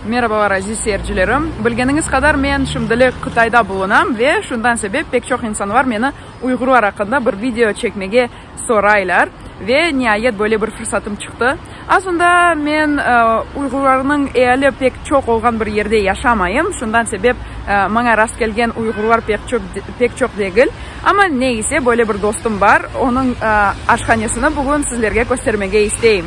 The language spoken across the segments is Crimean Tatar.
Merabalar, aziz seyircilerim! Bilgeniñiz qadar, men şimdilik Qıtayda bulunam ve şundan sebep pek çoq insanlar meni uyğurlar aqqında bir video çekmege soraylar ve niayet böyle bir fırsatım çıqtı. Aslında men uyğurlarnıñ eali pek çoq olğan bir yerde yaşamayım, şundan sebep maña rastkelgen uyğurlar pek çoq, pek çoq degil. Amma ne ise, böyle bir dostum bar, onıñ aşhanesini bugün sizlerge köstermege isteyim.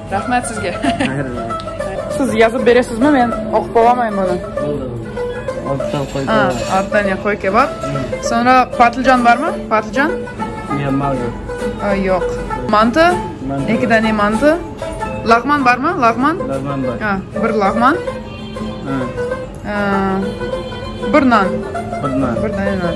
Rahmet sizge. Siz yazıp beresizmi, men oqup olamayım bunı. Aa, altta ne, qoy kebap. Soñra patlıcan barmı? Patlıcan? Aa, yoq. Mantı? Eki dane mantı. Lağman barmı? Lağman? Aa, bir lağman. Aa, bir nan. Bir dane nan.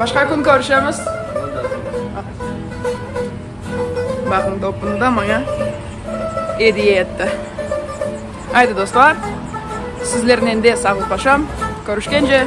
Başqa kün körüşemiz. Baqıñ, topunda maña ediye etti. Aydı dostlar, sizlernen de sağlıqlaşam, körüşkence!